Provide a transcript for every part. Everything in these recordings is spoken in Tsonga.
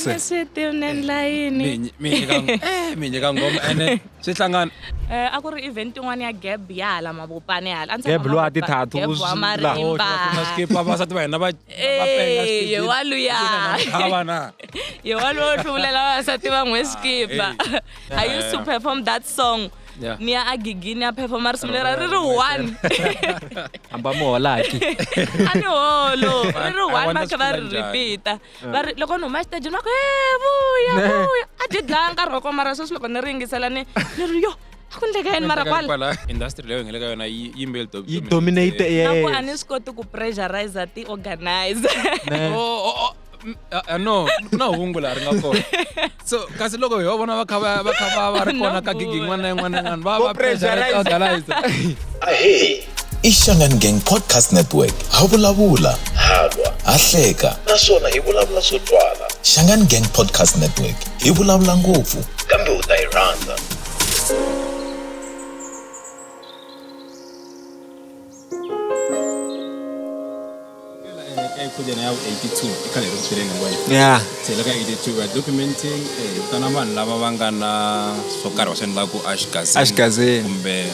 Ene swi tivnen layini mi nyi- mi nyika ng- eh, mi nyika ngoma ene swi hlangana Eh, a ku ri event yin'wana ya gab ya hala mavopane hala a ndzi Gab tshama lowa Mavopane. ti-tattoo Gab wa swi- marimba skipa vavasati va hina va Eh, ye wa luya. vana ye walowo hluvulela vavasati van'we skipa Ah, i used to perform that song Yeah. ni ya agigi ni ya performa ri sungulera ri ri one hamba muholaki a ni holo ri ri one va kha va ri repeata va ri loko ni huma exitejini va ku e vuya vuya a byi dlaya nkarhi wa kona mara sweswi loko ni ri yingisela ni ni ri yo a ku endleka yini mara kwala industry leyo ngele ka yona yi yimbeli yi dominate na ku a ni swi koti ku pressurize ti organizer Mm, ah, ah, no ku na hungu laha ri nga kona so kasi loko hi va vona va kha va va kha va va ri kona ka gigi yin'wana na yin'wana na yin'wana va va pressurize organize ahee i shangan gang podcast network ha vulavula ha lwa ha hleka naswona hi vulavula swo twala shangan gang podcast network hi vulavula ngopfu kambe u ta yi rhandza ya se le ka 82 va documenting eh, vitana vanhu lava va nga na swo karhi va swi endlaku ashgazin Ashgazin. kumbe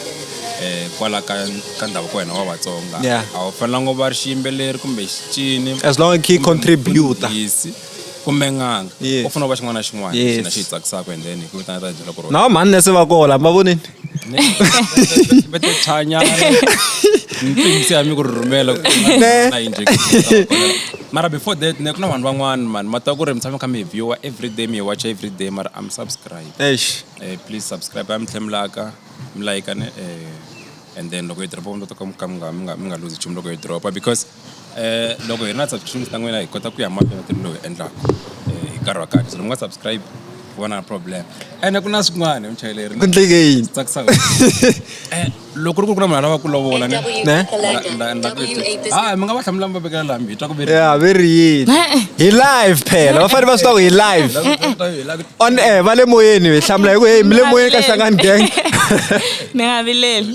eh, kwala ka ka ndhavuko wa hina wa vatsonga Yeah. a wu fanelanga u va ri xiyimbeleri kumbe xicini as long as ki contributor Mfundhisi. kumbe n'anga u fanele u va xin'wana na xin'wana xi na xi yi tsakisaka and then hi ku vitana ta byela ku ri na mhani nese va kola mi va vonini va te chanyana mpimisi ya mi ku ri rhumela na injection mara before that ne ku na vanhu van'wana mani ma twa ku ri mi tshame kha mi hi viewer every day mi hi watcha every day mara am subscribe eish eh, please subscribe a mi tlhe mi laka mi layika ne eh, and then loko yi dropa mi ta ka mi nga mi nga mi nga lose nchumu loko yi dropa because loko hi ri na subscriptions ta n'wina hi kota ku ya mahlweni ntirho lowu hi wu endlaka hi nkarhi wa kahle so loko mi nga subscribe ku va na problem ene ku na swin'wana hi muchayeleri ku endleke yini swi tsakisaka Eh, loko ri ku ri ku na munhu a lava ku lovola ne Ne? Nda- nda- nda- ah mi nga va hlamula mi va vekela laha mi hi twa ku ve ya ve ri yini E-e. hi live phela va fanele va swi tiva ku hi live on air va le moyeni hi hlamula hi ku heyi mi le moyeni ka hlangani gang mi nga vileli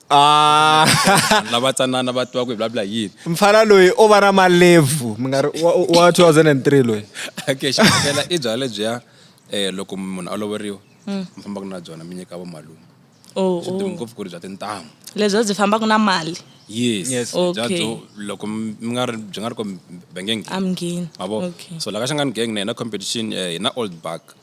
Ah. lava tsanana va tiva ku hi vulavula hi yini mfana loyi o va na malevu mi nga ri wa wa 2003 loyi okay xikela i byala lebyiya um loko munhu a loveriwa mi fambaka na byona mi nyika vamalume Oh, swi dumi oh. ngopfu ku ri bya tintangu lebyo byi fambaka na mali yes Yes. bya Okay. byo loko mi mi nga ri byi nga ri ko benge nghini amngeni mavo Okay. so la ka xangani gang na hina competition eh, hi na old buck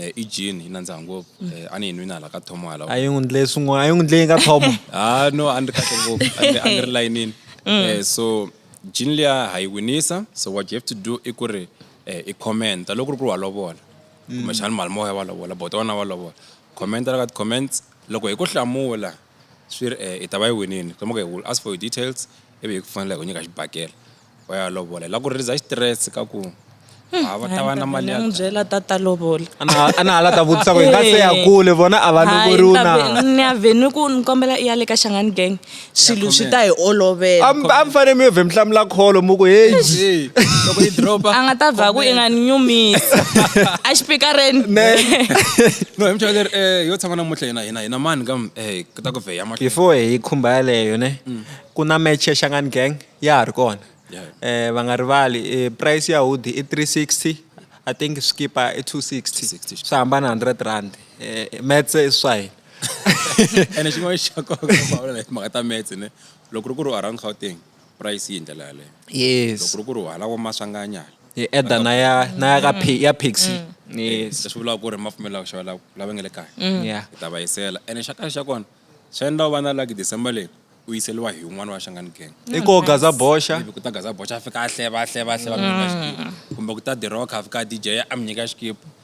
Eh, i gin yi nandziha ngopfu mm. eh, a ni yi nwini hala ka thomo hala a yi n'wi ndle swin'wana a yi n'wi ndle yi nga thomo ha ah, no a ni ri kahle ngopfu a ni ri layinini mm. eh, so gin liya ha yi winisa so what you have to do i ku ri i commenta loko ri ku ri wa lovola mm. kumbexani malimoya wa lovola bota wena wa lovola commenta la ka ti-comments loko hi ku hlamula swi ri e i ta va yi winini kuma ku will ask for your details ivi hi ku fanela hi ku nyika xibakela va ya lovola hi la ku release xitirese ka ku ha va ta va na mali ya n'wi byela tata lovola a na a na ha la ta vutisa ku hi nga se ya kule vona a va lovoriwi na ni ya vhe ni ku ni kombela i ya le ka xangani gang swilo swi ta hi olovela a mi a mi fanele mi yo vhe mi hlamula kholo mu ku heyi Hey, loko yi dropa a nga ta vha ku i nga ni nyumisi a xipikareni ne no hi muchayeri eh yo tshama namuntlha hina hina hina mani ka eh ku ta ku vheya ma before hi khumba yaleyo ne mm. ku na match ya Shangan Gang ya ha ri kona eh va nga rivali eh, price ya hoodie i 360 i think skipa i 260 swi hambana 100 rand eh metse i swa hina ene xin'wana xa nkoka ku vulavula hi timhaka ta metse ne loko ri ku ri u around gauteng price yi hi ndlela yaleyo yes loko ri ku ri hala wa maswanganya hi eda na ya na ya ka mm. ya pixi mm. yes leswi vulaka ku ri ma pfumela ku xava lava nge le kaya mm. ya hi ta va yisela ene xa kahle xa kona swi endla u va na laki december leyi u yiseliwa hi un'wana wa xangani gang i ko gaza boxa ku ta gaza boxa a fika a hleva a hleva a hleva kumbe ku ta diroka a fika a dj a mi nyika xikipa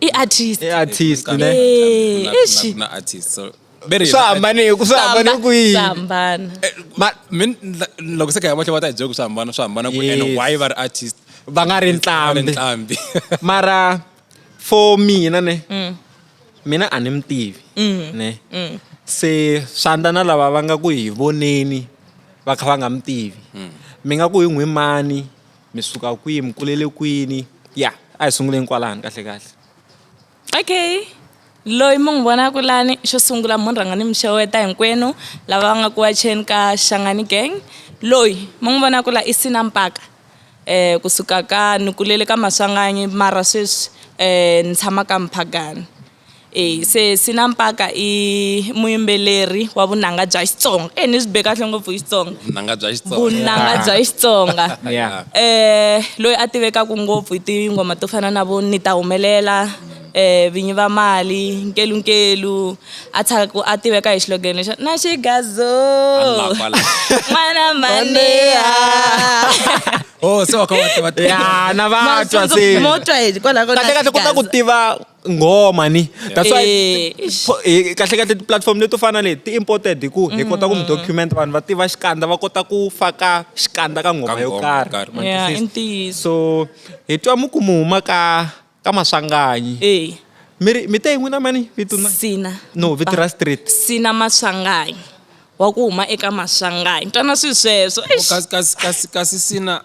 i-artist i-artist ne Eh, Kuna- ishi. kuna- kuna artist so beri swa hambane ku swa hambane ku yini sambana Ma- min loko se ka ya matlhe va ta hi byela ku swi hambana swi hambana ku ene Yes. why va ri artist va nga ri va ri ntlambi ntlambi mara for mina ne mina a ni mi tivi ne se swandla na lava va nga ku hi voneni va kha va nga mi tivi mi nga ku hi n'wi mani mi suka kwihi mi kulele kwini ya a hi sunguleni kwalani kahle kahle okay loyi mi n'wi vonaka lani xo sungula mo ni rhanga ni mi xeweta hinkwenu lava va nga ku wacheni ka xangani gang loyi mi n'wi vonaka la i sina mpaka um kusuka ka ni kulele ka maswanganyi mara sweswi um ni tshama ka mphagani E se Sina Mpaka i muyimbeleri wa vunanga bya Xitsonga e ni swi be kahle ngopfu hi Xitsonga vunanga bya Xitsonga vunanga bya Xitsonga yeah. eh loyi a tivekaka ngopfu hi tingoma to fana na vo ni ta humelela eh vinyi va mali nkelu nkelu a tshaka a tiveka hi xilogen lexi na xigazo n'wana maneya oh se wa kha wa tiva ya na va twa se mo twa hi kwalaho ka kahle kahle ku ta ku tiva ngoma ni that's why Eh, eish. fo- eh, kahle kahle tiplatform leto fana leti ti imported hi ku hi kota ku mi document vanhu va tiva xikandza va kota ku faka xikandza ka ngoma yo ngoma yo karhi karhi. ma Yeah, twisisa? i ntiyiso. so hi twa mu ku mu huma ka ka maswanganyi Eh, mi ri mi te hi n'wina mani vito na sina no vito ra street sina maswanganyi wa ku huma eka maswanganyi twana swi sweswo Eish. kasi kasi kasi kasi sina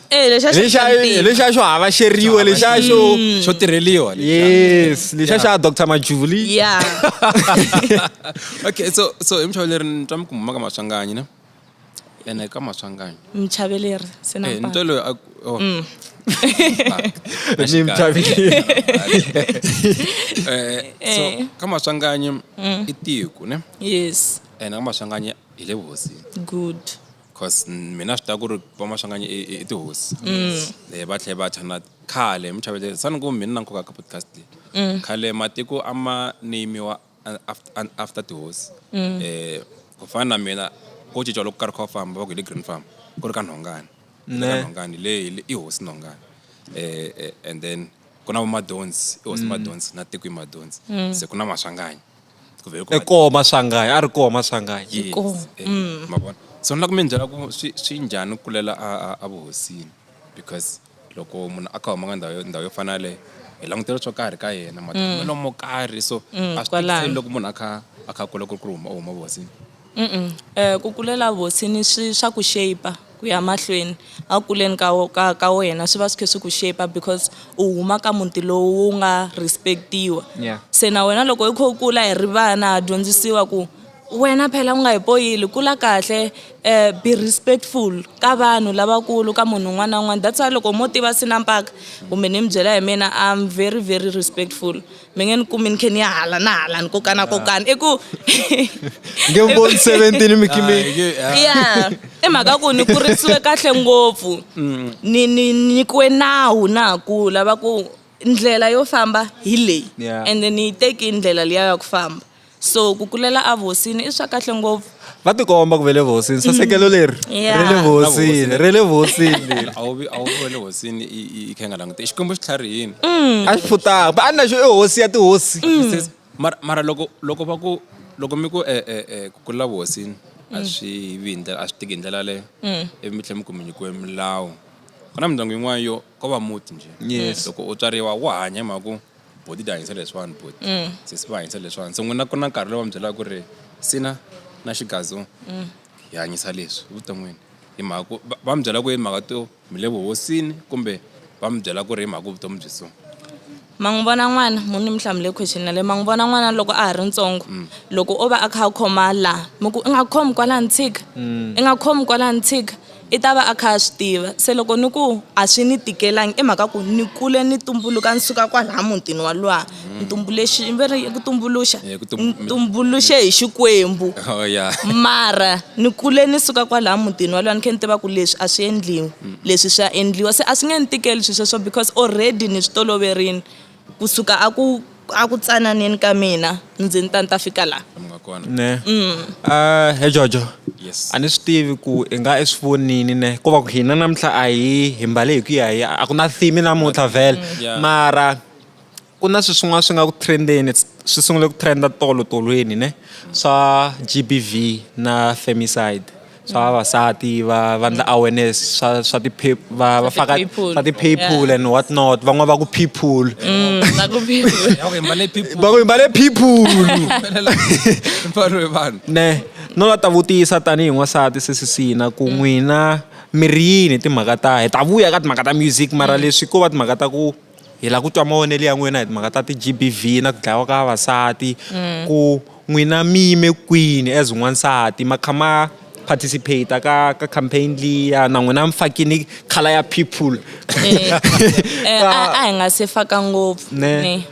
Eh, lexa xi lexa hlampfile. lexa xo hava xeriwe lexa xo xo tirheliwa lexa. yes lexa xa dr majuli ya okay so so hi muchaveleri ni twa mi ku mhuma ka maswanganyi ne ene ka maswanganyi mchaveleri se na Eh, ni twa mpaka. loyi a ku- oh. Ni mchaveleri. Eh, so Eh. ka maswanganyi i tiko ne yes ene ka maswanganyi hi le vuhosini good cause mina swi ta ku ri vamahlanganye i tihosi mm. eh, va tlhela va chana khale mi chavele sani ku mina na nkoka ka podcast leyi mm. khale matiko a ma neyimiwa after tihosi mm. eh, ku fana na mina ko cinca loko karhi kha famba va ku hi le green farm ku ri ka nhongani ka nhongani leyi i hosi nhongani eh, eh, and then ku na vamadonsi i hosi madonsi na tiko i madonsi se ku na maswanganyi kumbe hi ku e koho maswangayi a ri koho maswangayi Yes. Koho, Eh, mm. ma vona so ni lava ku mi byela ku swi swi njhani ku kulela a a- a vuhosini because loko munhu a kha huma ka ndhawu yo- ndhawu yo fana yaleyo hi langutela swo karhi ka yena matimelo mo karhi so Mm, a swi kwalano. tikiseli loko munhu a kha a kha kula ku ri ku huma u huma vuhosini Ku kulela vosini swi swa ku shape-a ku ya mahlweni a ku kuleni ka ka ka wena swi va swi kha swi ku shape-a because u huma ka muti lowu wu nga respect-iwa Yeah. se na wena loko u kha u kula hi ri vana ha dyondzisiwa ku wena phela u nga hi poyili kula kahle um be respectful ka vanhu lavakulu ka munhu un'wana na un'wana that's why loko mo tiva Sinampaka kumbe ni mi byela hi mina I'm very very respectful. mi ngeen kumi ni khe ni ya hala na hala ni kokana ah. kokana i ku nge mi voni seventeen mi kimi ah, ya i mhaka ku ni kurisiwe kahle ngopfu mm. ni ni nyikiwe nawu na ha kula va ku ndlela yo famba hi leyi and ni yi teki ndlela liya ya ku famba so ku kulela a vuhosini i swa kahle ngopfu va tikomba ku ve le vuhosini sasekelo leri Yeah. ri le vuhosini ri le vuhosini leri a wu vi a wu vi wa le hosini i i- i kha i nga langute xikwembu xi tlharihini a xi futaka ba a ni naxo i hosi ya tihosi Says, mara mara loko loko va ku loko mi ku eh, eh, eh, ku kulela vuhosini a swi vi hi ndlela a swi tiki hi ndlela leyo ivi mi tlhela mi ku mi nyikiwe milawu ku na mindyangu yin'wana yo ko va muti njhe Yes. loko u tswariwa wa hanya hi mhaka ku boti ti hanyisa leswiwani boti mm. sesi va hanyisa leswiwani se n'wina ku na nkarhi lowu va mi byelaka ku ri sina na xigazo mm. hi hanyisa leswi evuton'wini hi mhaka ku va mi byela ku hi mhaka to mi le vuhosini kumbe va mi byela ku ri hi mhaka vutomi byi so ma n'wi vona n'wana mu ni mi hlamule question yaleyo ma n'wi vona n'wana loko a ha ri ntsongo mm. loko o va a kha a khoma laha mi ku i nga khomi kwalaha ni tshika i nga khomi kwalaha ni tshika I ta va a kha a swi tiva se loko ni ku a swi ni tikelangi i mhaka ku ni kule ni tumbuluka ni suka kwalaya mutini wa luwa ni tumbuluxi va ri ku tumbuluxa eh, ni tumbuluxe hi xikwembu oh, mara ni kule ni suka kwalaya mutini wa luwa ni khe ni tiva ku leswi a swi endliwi leswi swa endliwa se a swi nge ni tikeli swilo sweswo because already ni swi toloverile Ku suka a ku a ku tsananeni ka mina ndzi ni ta ni ta fika la ne mm. ah, he jojo a ni swi tivi ku i nga i swi vonini ne ko va ku hina namuntlha a hi hi mbale hi ku ya hi a ku na theme namuntlha vhele mm. mara ku na swi swin'wana swi nga ku trendeni swi sungule ku trenda tolo tolweni ne swa gbv na femicide swa vavasati va va ndla awareness swa swa ti va va faka swa ti people and what not van'wa va ku people mm, va ku people va ku mbale people ne no la ta vutisa tanihi n'wansati sisisina ku mm. n'wina mi ri yini timhaka ta hi ta vuya ka timhaka ta music mara mm. leswi ko va timhaka ta ku hi lava ku twa mavonelo ya n'wina hi timhaka ta ti-G_B_V na ku dlayiwa ka vavasati mm. ku n'wina mi yime kwini as n'wansati ma kha ma participate ka ka campaign liya na n'wina mi fakini khala ya people eh, eh, a hi nga se faka ngopfu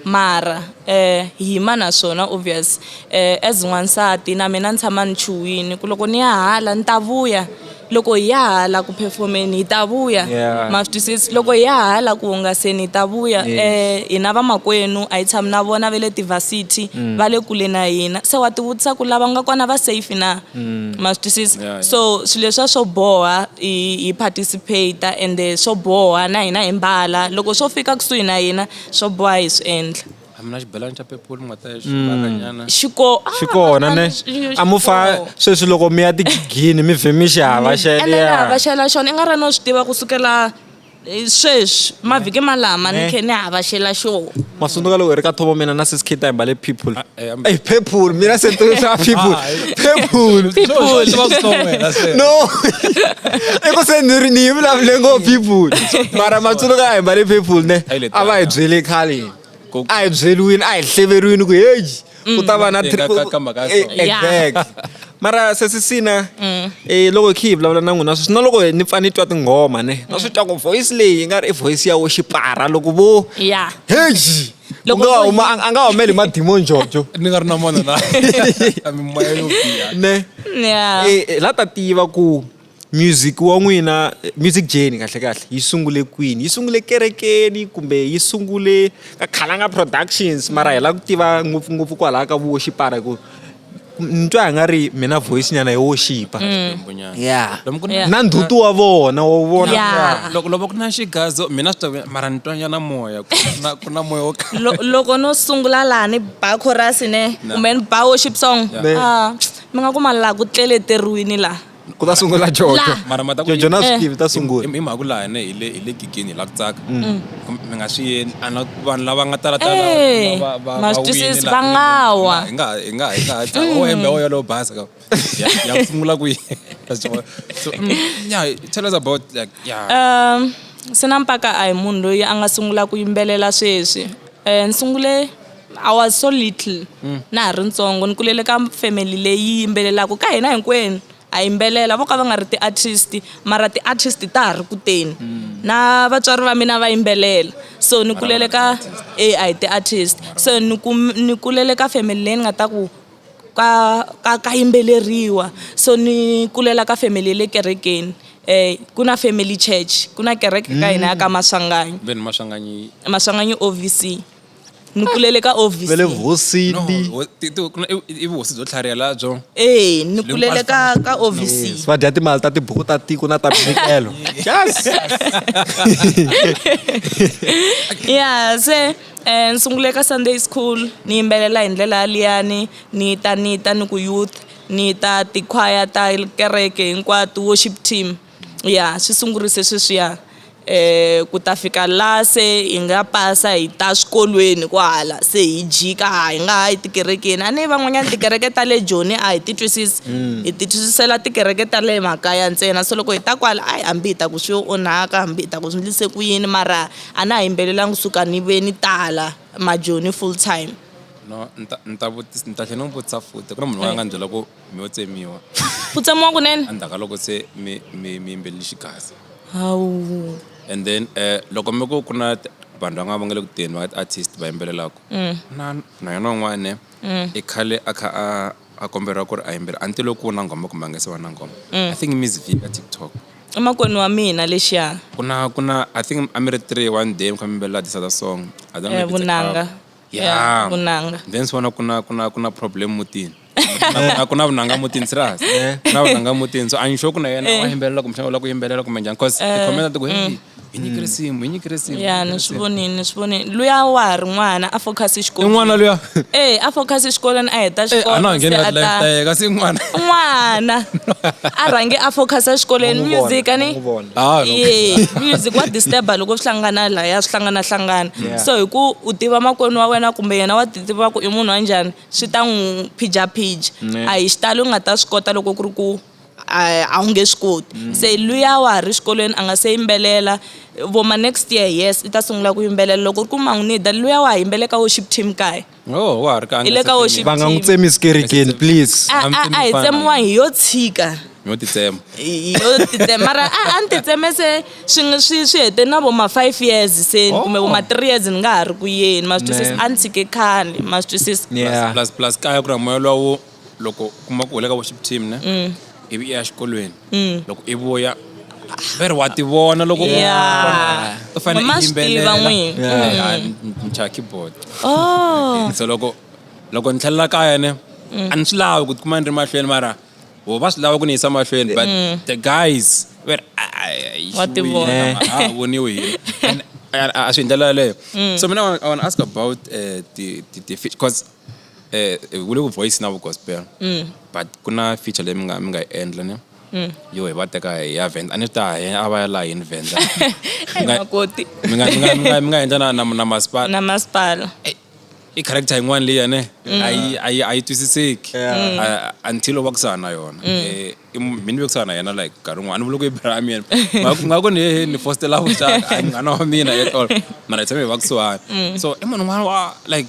mara um hi yima na swona obvious um as n'wansati na mina ni tshama ni chuwini ku loko ni ya hala ni ta vuya loko hi ya hala ku performeni hi ta vuya yeah. ma swi twisisi loko hi ya hala ku hungaseni hi ta vuya yes. eh, hina vamakwenu a hi tshami na vona va le tivasity mm. va le kule na hina se wa tivutisa ku lava nga kona va safe na mm. ma swi twisisi yeah, yeah. so swilo leswa swo boha hi, hi participate ende swo boha na hina hi mbala loko swo fika kusuhi na hina swo boha hi swi endla a mi na xibelani xa purple mi nga ta xibakanyana mm. xiko ah, xi kona ne a mu fa sweswi loko mi ya tigigini mi vhe mi xi hava xelehava xela xona i nga ri no swi tiva kusukela eh, sweswi mavhiki malama ni khe ni hava xela xona masunduka loko hi ri ka thovo mina na sis kita hi mbale people ah, eh, ey people mina se xa people ah, people no i ku se ni ri ni yi vulavule ngo people mara matsundzuka hi mbale people ne a va hi byele khale a hi byeliwini a hi hleveriwini ku heyi ku ta va na Mm. Teka ka- ka mhaka ya so. Eh, exact mara sesisina Mm. eh, loko hi khe hi vulavula na n'wina sweswi na loko hi- ni pfa ni twa tinghoma ne Mm. na swi twa ku voice leyi yi nga ri i voice ya wo xipara loko vo ya heji Loko Loko vo- a nga humeli hi madimoni jojo ni nga ri na mona na mimoya yo biha ne ya Eh, eh, la ta tiva ku Music wa n'wina music journey kahlekahle yi sungule kwini yi sungule ekerekeni kumbe yi sungule ka Khalanga productions mara hi lava ku tiva ngopfungopfu kwalaya ka vuwoxipara hi ku ni twa hi nga ri mi na voice nyana yo woxipa mm. ya na ndhuti wa vona wa vona loko loko ku na xigazo mina swi ta mara ni twa nyana moya ku na moya wo loko no sungula laha ni ba chorus ne kumbe ni ba worship song ah, mi nga ku ma laha ku tleleteriwini laha ku ta sungula jojo La. mara ma ta ku jojo na swi Eh. tivi ta sungula i mhaka la hina hi le hi le gigini hi la ku tsaka Mm. Kum- mi nga swi yeni a na vanhu lava nga tala tala Eh, va- va- va- ma swi va twisisi, wini la- va nga wa. hi nga hi nga hi nga ha tsaka o hembe o yolo basa ka ya ya ku sungula ku yini so yeah tell us about like yeah um sina mpaka a hi munhu loyi a nga sungula ku yimbelela sweswi um ni sungule I was so little mm. na ha ri ntsongo ni kulele ka family leyi yimbelelaka ka hina hinkwenu a yimbelela vo ka va nga ri ti-artist mara ti-artist ta ha ri kuteni mm. na vatswari va mina va yimbelela so ni kulele ka e a hi ti-artist so ni ni kulele ka family leyi ni nga ta ku ka ka ka yimbeleriwa so ni kulela ka family le kerekeni eh ku na family church ku na kereke ka hina ya ka mm. maswanganyi maswanganyi ovc ni kulele ka ovc ve le vuhosini No, ho- ti- ti- ku na- i- i vuhosi byo tlharihela byo ee ni kulele ka ka ovc Yes, va dya timali ta tibuku ta tiko na ta minikelo yes ya se um ni sungule ka sunday school ni yimbelela hi ndlela yaliyani ni ta ni ta ni ku youth ni ta tikhwaya ta kereke hinkwato worship team Ya swi sungurise sweswiya ku ta fika la se hi nga pasa hi ta swikolweni kwahala se hi jika a hi nga ha yi tikerekeni a ni van'wanyana tikereke ta le joni a hi ti twisisi hi ti twisisela tikereke ta le makaya ntsena se loko hi ta kwala a hambi hi ta ku swi yo onhaka hambi hi ta ku swi ndlise ku yini mara a na ha yimbelelanga kusuka ni ve ni tala majoni full time. No ni ta ni ta ni ta tlhe ni n'wi vutisa futhi ku na munhu loyi a nga ni byela ku. mi yo tsemiwa ku tsemiwa kunene endzhaku ka loko se mi mi mi yimbelele xigaza hawu and then eh loko mi ku ku na t- vanhu va nga va nga le ku teni va artist va yimbelelaka na na yona un'wana i khale a kha a a komberiwa ku ri a yimbelela anti loko ku na nghoma kumbe a nga se va na nghoma i think miss v ka tiktok emakwenu wa mina lexiya ku na ku na i think a mi ri three one day mi kha mi yimbelela this other song I don't know Eh, if it's a vunanga. cover. ya vunanga then swi vona ku na ku na ku na problem mutini na ku na vunanga mutini serious eh. na vunanga mutini so i'm sure ku na yena eh. wa yimbelela kumbe xana u lava ku yimbelela kumbe njhani cause eh. tikhomela ti ku heyi mm. hi nyike risimu hi nyike risimu ya ni swi vonini ni swi vonini luya wa ha ri n'wana a focus xikolweni i n'wana luya e a focus xikolweni a heta xikoloatayeka se n'wana n'wana a rhange a focus exikolweni music ani ye music wa disturba loko swi hlangana laya swi hlangana hlangana yeah. so hi ku u tiva makwenu wa wena kumbe yena wa titiva ku i munhu wa njhani swi ta n'wi phijaphija a hi xitalo u nga ta swi kota loko ku ri ku a wu nge swi koti mm. se luya wa ha ri xikolweni a nga se yimbelela voma next year yes i ta sungula ku yimbelela loko ri ku man'winida luya wa ha yimbeleka worship team kaya Oh, wa ha ri ka a Hi nga le se ka worship va nga n'wi team. tsemisi kerekeni please a I'm a- a hi thinking fana. tsemiwa hi yo tshika yo titsema Hi yo titsema mara a a ni titseme se swi nga- swi swi hete na vo ma five years se Oh. kumbe vo ma three years ni nga ha ri ku yeni ma swi twisisa Man. a ni tshike khale ma swi twisisa yeah plus plus kaya ku ri moya lowu loko kuma ku u le ka worship team ne mm. ivi i ya xikolweni mm. loko i vuya veri wa tivona loko u fanele i yimbelela ncha keyboard oh. so loko loko ni tlhelela kaya ne mm. a ni swi lavi ku tikuma ni ri mahlweni mara ho va swi lava ku ni yisa mahlweni but the guys veri a voniwe hi a swi hi ndlela yaleyo so mina i want to ask about uh, the, the, the because eh ku le ku voice na vu gospel mm. but ku na feature leyi mi nga mi nga yi endla ne mm. yo hi va teka hi ya venda a ni ta hi a va ya laha yini venda makoti mi nga mi nga mi nga mi nga endla na na na masipala na masipala eh, i character yin'wana leyi yane mm. a yi a yi a yi twisiseki until wa ku sahana yona eh, i mu- mi ni vekisana na yena like nkarhi wun'wana ni vula ku i brother wa mina Nga ku- nga ku ni hehe ni fostela vuxaka a hi munghana wa mina at all mara hi tshame hi va kusuhani so i munhu un'wana wa like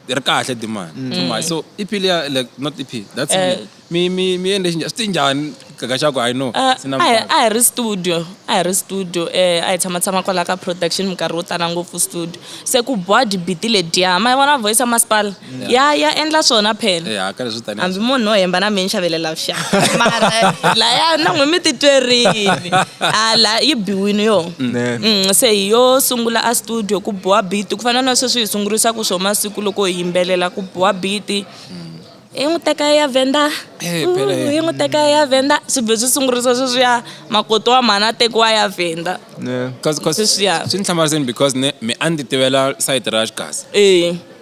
hi ri kahle dimani so my so ep liya like not ep that's Eh. me mi mi mi endle xinjhani swi ti njhani gaga xa ku i know Ah, sina a hi- mfana. a hi ri studio a hi ri studio um a hi tshamatshama kwala ka production minkarhi wo tala ngopfu studio se ku board biti lediya ma yi vona voice ya masipala ya ya endla swona phela eh, hambi munhu no hemba na mi ni xavelela vuxaka mara laya na n'wi mi titwerini ala yi biwini yo mm. mm, se hi yo sungula a studio ku boha biti ku fana na sweswi hi sungurisaka swo masiku loko hi yimbelela ku boha biti mm. hi n'wi teka ya venda eh, hi n'wi teka ya venda swi be swi sungurisa sweswiya makoto wa mhana tekiwa ya venda sweswiya swi ni hlamariseni because ne mi a ndzi tivela sayiti ra xikasi e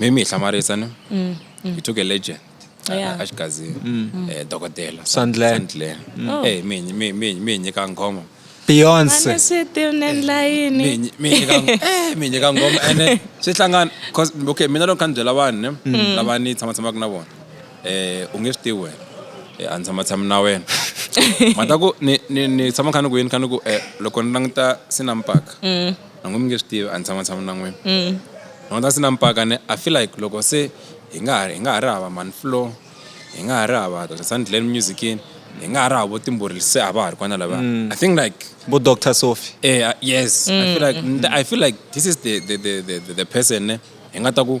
maybe hi hlamarisa ne mm, mm. we took a legend Yeah. a xigazini um dokodela Sandler. Sandler. Oh. Eh, mi hi- mi- mi- mi hi nyika nghoma beyonce Mane swi tivnen layini mi hi nyi- mi hi nyika ng- eh, mi hi nyika nghoma ene swi hlangana 'cause, okay mina loko kha ni byela vanhu ne lava ni tshamatshamaka na vona um u nge swi tivi wena Eh, a ni tshamatshami na wena mhaka ku ni ni- ni tshama kha ni ku yini kha ni ku um loko ni languta sinampaka na n'wi mi nge swi tivi a ni tshama tshama na n'wina mm. no that's na mpaka ne i feel like loko se hi nga ha hi nga ha ri hava man flow hi nga ha ri hava dr sandland musicini hi nga ha ri havo timburi se a va ha ri kwana lava mm. i think like bo dr sophie eh uh, yes mm. i feel like mm. i feel like this is the the the the, the person ne hi nga ta ku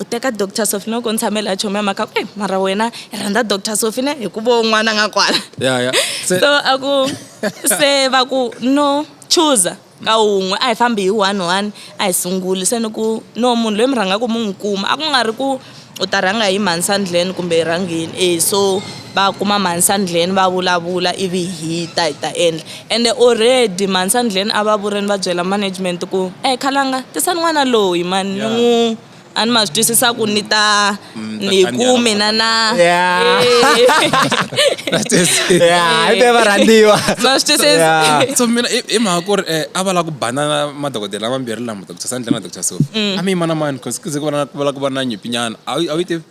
U teka Doctor Sophie no ko ni tshame la chomi ya mhaka ku eh mara wena i rhandza Doctor Sophie ne hi ku vo n'wana nga kwala ya ya so a ku se va ku no chooser ka wun'we a hi fambi hi one one a hi sunguli se ni ku no munhu loyi mi rhangaku mi n'wi kuma a ku nga ri ku u ta rhanga hi mhani sandleni kumbe hi rhangini e so va kuma mhani sandleni va vulavula ivi hi ta hi ta endla Ende already mhani Sandleni a va vureni va byela management ku eeh khalanga tisani n'wana loyi mhani ni n'wu a ni ma swi twisisa ku ni ta ni ku mina na Yeah, i te varhandziwa. Ma swi twisisa. Yeah. so mina i i mhaka ku ri eh, a va lava ku banana madokodela mambirhi lama doctor Sandlin na doctor Sophie a mi yimana mani cause ku ze ku va na ku va lava ku va na nyimpinyana a wu a wu yi tivi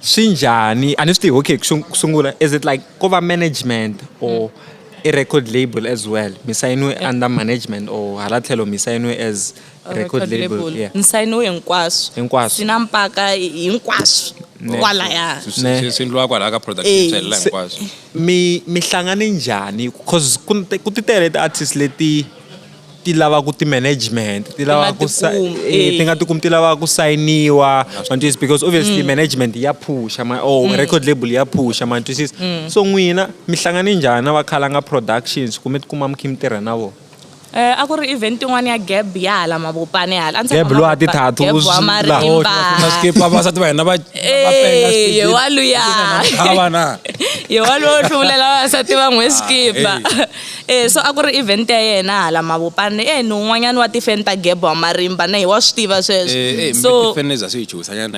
swi njhani a ni swi tivi okay ku ku sungula is it like ko va management or i record label as well mi sayiniwe under management or hala tlhelo mi sayiniwe as record label yeah ni sayiniwe hinkwaswo Hinkwaswo. sina mpaka hinkwaswo kwalaya Ne. Swi- swi endliwa kwalaha ka product Eh, yitswelela se- hinkwaswo mi mi hlangane njhani cause ku ku ti tele ti-artist leti ti lava ku ti-management ti lava ku eh, ti nga tikumi ti lava ku sayiniwa mantwisisa because obviously mm. management ya phusha or oh, mm. record label ya phusha mantwisisa mm. so n'wina mi hlangane njhani na vakhalanga productions kumbe tikuma mi khe mi tirha na vona Eh a ku ri event yin'wana ya gab ya hala mavopane hala a ndzi gab lowa tithatu wa marimba skip vavasati va hina va eh yewaluya havana yewaluya hluvulela vavasati van'we skipa Eh, so a ku ri event ya yena hala mavopane eh ni un'wanyana wa tifeni ta gebo wa marimba na hi wa swi tiva sweswo eh, eh, so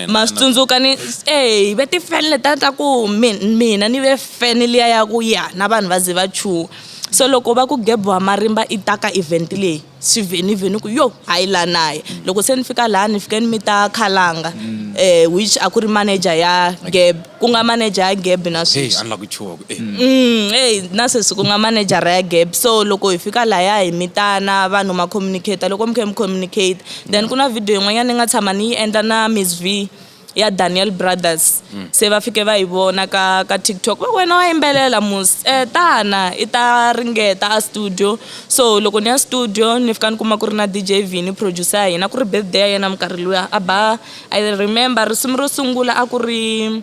ma swi tsundzuka ni eh ve tifeni leta ta ku mina ni ve feni liya ya ku ya na vanhu va ze va chuha so loko va ku gebo wa marimba i ta ka event leyi swi ve ni ve ni ku yo a yi la naye mm. loko se ni fika laha ni fike ni mi ta khalanga mm. eh which a ku ri manager ya geb ku nga manager ya geb na sweswi a ni la ku chuha ku eh mm hey na sweswi ku nga manager ya geb so loko hi fika laha hi mitana vanhu ma communicate loko mi khe mi communicate then ku na video yin'wanyana ni nga tshama ni yi endla na miss v ya Daniel Brothers mm. se va fike va yi vona ka ka TikTok va wena wa yimbelela mus eh tana i ta ringeta a studio so loko ni ya studio ni fika ni kuma ku ri na DJ Vini producer ya hina ku ri birthday ya yena minkarhi luya a ba I remember risimu ro sungula a ku ri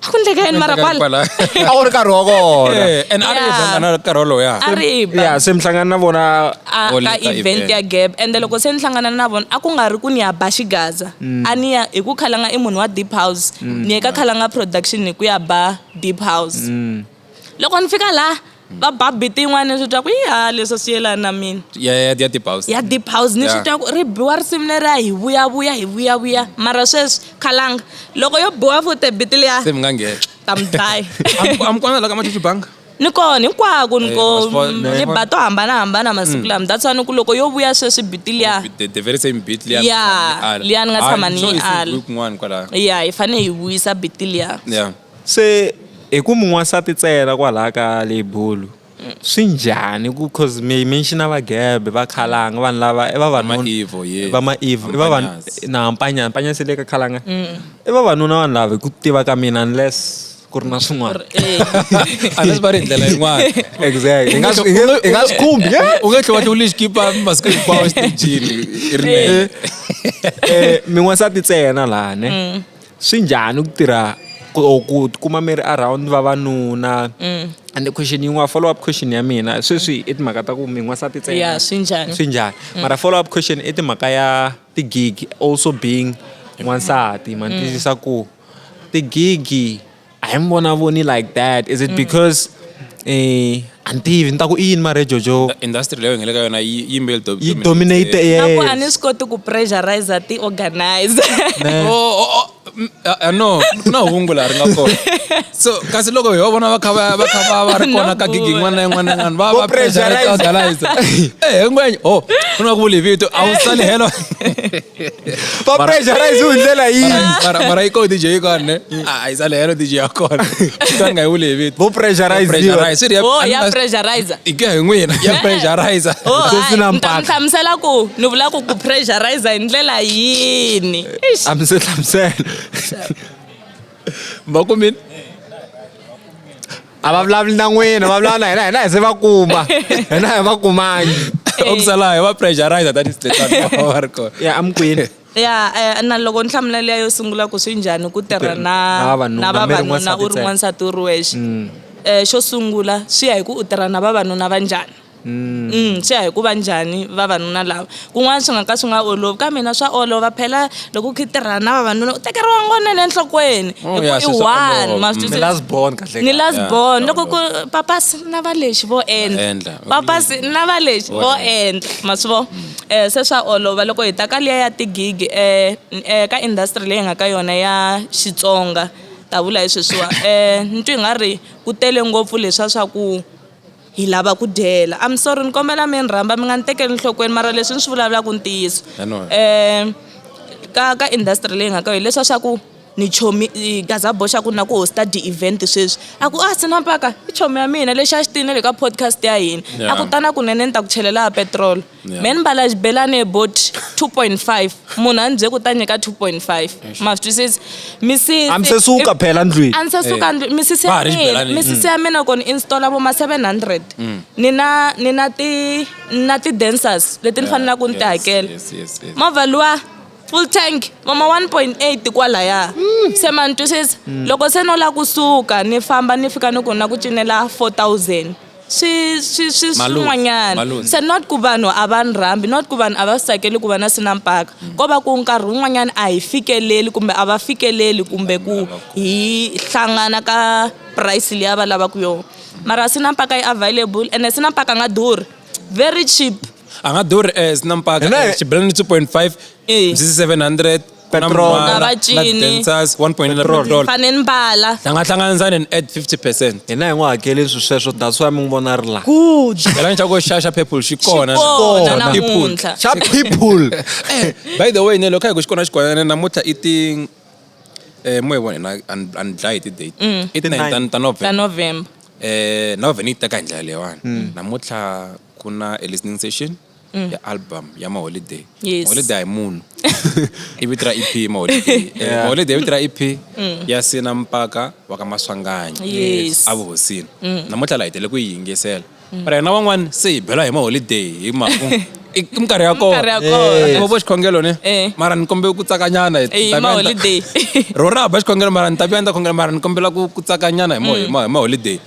a ku ndleka yini mara kwala kwala a ku ri nkarhi wa kona Eh, and a ri Yeah. event a na nkarhi wolowo ya a ri ba ya se mi hlangana na vona a All ka ka event event. ya gap ende loko se ni hlangana na vona a ku nga ri ku ni ya ba xigaza a ni ya hi ku khalanga i munhu wa deep house ni ye ka khalanga production hi ku ya ba deep house loko ni fika la va ba biti yin'wana ni swi twa ku ya leswi swi yelani na mina ya ya ya deep house ya deep house ni swi twa ku ri biwa risimu leriya hi vuyavuya hi vuyavuya mara sweswi khalanga loko yo biwa futi biti liya se mi nga nghena ta mi dlaya a mi kona la ka machuchu banga ni kona hinkwako ni eh, ko ni ba to hambanahambana masiku mm. lama that's why ni ku loko yo vuya sweswi biti liya oh, ya liya ni nga tshama ni yi ala ya hi fanele hi vuyisa biti liya Se hi ku mi n'wansati ntsena kwalaha ka lebulu swi njhani ku cause mi mention va gebe va khalanga vanhu lava i vavanuna Maevo, yeah. va maevo i vavanuna Mpanyasi. na mpanyana mpanyana se le ka khalanga i vavanuna vanhu lava hi ku tiva ka mina unless ku ri na swin'wana unless va ri hi ndlela yin'wana exactly hi nga swi- hi nga- hi nga swi khumbi yeah. u nge tlhe wa ti u lexi kipa masiku hinkwawo exitejini i rinene Eh, mi n'wansati ntsena laha ne Swi njhani ku tirha ku tikuma mi ri around vavanuna mm. and question yin'wana follow up question ya mina sweswi i timhaka ta ku mi n'wansati ntsena swi njhani swi njhani mm. mara follow up question i timhaka ya ti-gig also being n'wansati ma ni mm. tiyisisa ku ti-gig a hi mi vonavoni like that is it mm. because eh a ni tivi ni ta ku i yini mara jojo industry leyo hi nga le ka yona yi yimbeyi yi dominate yes a ni swi koti ku pressurize ti organizer no ku na hungu laha ri nga kona so kasi loko hi va vona va kha va kha va va ri kona ka gigi yin'wana na yin'wana yin'wana va va pressurize organizer eh ngwenye oh ku na ku vuli vito a wu sali helo va pressurize hi ndlela yimara yi ko dj yi kona ne a yi sale helo dj ya kona xitani nga yi wule hi vito vo pressurizepressurize oh, ya pressurize hi ku ya hi n'wina ya pressurize oh, sesi na mpaka hlamusela ku ni vula ku ku pressurize hi ndlela yini a mi se hlamusela va kumini a va vulavuli na n'wina va vulavula na hina hina hi se va kuma hina hi va kumangi okusalayo va pressurizer that is va ri kona ya amukweni ya eh, na loko ni hlamula leya yo sungula ku swi njhani ku tirha na na vavanuna u ri n'wansati u ri wexe um xo sungula swi ya hi ku u tirha na vavanuna va njhani Mm. Mm, swi ya hi ku va njhani vavanuna lava kun'wana swi nga ka swi nga olovi ka mina swa olova phela loko u khitirhana na vavanuna u tekeriwa ngonene enhlokweni oh, hi ku i one masni last born mm, loko ku papasi na va lexi vo endla papasi na va lexi vo endla ma swi vo mm. eh, se swa olova loko hi ta ka liya ya tigigi eh, eh, ka industry leyi nga ka yona ya xitsonga ta vula hi sweswiwa um eh, ni twi nga ri ku tele ngopfu leswa swa ku Hi lava ku dyela. I'm sorry ni kombela mi ni rhamba mi nga ni tekeli nhlokweni mara leswi ni swi vulavulaka i ntiyiso. I know. Eh ka ka industry leyi hi nga ka yona hileswiya swa ku ni chomi Gaza boy xa ku na ku host-a ti-event sweswi a ku a Sinampaka i chomi ya mina lexi a xi tiyile na le ka podcast ya hina a ku ta na kunene ni ta ku chelela ya petiroli. Yeah. me ni mbala xibelane bot 2.5 munhu a ni bye ku ta nyika 2.5 ma swi twisisi misisi a mi se suka phela ndlwini a ni se suka ndlu- misisi Va ha ya ri mina xibelani. misisi ya mina ku ni installa vo ma 700 ni na ni na ti ni na ti-dancers leti ni fanelaka ku ni ti hakela Yes, yes, yes. movha luwa full tank mama 1.8 kwalaya se ma ni twisisa loko se no la kusuka ni famba ni fika ni ku na ku cinela 4000 swi swi swi swin'wanyana se not ku vanhu a va ni rhambi not ku vanhu a va swi tsakeli ku va na swi na mpaka ko va ku nkarhi wun'wanyana a hi fikeleli kumbe a va fikeleli kumbe ku hi hlangana ka price leyi a va lavaka yona mara swi na mpaka yi available ene swi na mpaka a nga durhi very cheap a nga durhi as na mpaka xibelani two point five mzizi seven hundred Petrol. Na va cini. Dancers 1.9 Petrol. petrol. fane ni mbala Hi nga hlanganisa ni add 50%. hina hi n'wi hakeli swi sweswo that's why mi n'wi vona a ri laha good Phela ni xa ku xaxa purple xi kona. kona na People. namuntlha xa people By the way, ne loko hi ku xi kona xi kona ne namuntlha i ti eh mo hi vona na and and dlaya hi ti date. I ti 9 ta- ta ta November. november Eh na vhene yi teka hi ndlela leyiwani. Namuntlha ku na a listening session. mm. ya album ya maholiday yes. maholiday munhu i vito ra ep maholiday yeah. maholiday i vito ra ep mm. ya sina mpaka wa ka maswanganyi yes. avuhosini mm. namuntlha la hi tele ku yi yingisela mm. mara yena van'wani se hi bela hi maholiday hi maku i minkarhi ya kona vo xikhongelo ni eh. mara ni kombela ku tsakanyana ro ra ba xikhongelo mara ni ta vuya ni ta khongela mara ni kombela ku tsakanyana hi maholiday mm.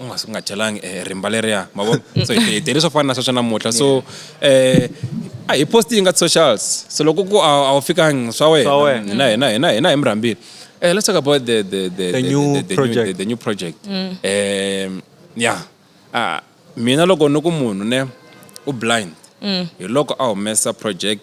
u nga nga chelangi eh, rimba leriya ma vo so hi hi tele swo fana na sweswo namuntlha so eh a hi post yi nga socials so loko ku a a wu fikangi swa Swa wena wena. hina hina hina hina hi mi rhambile eh let's talk about the the the The new the, project. the, the new project um ya ah mina loko ni ku munhu ne u blind hi loko a humesa project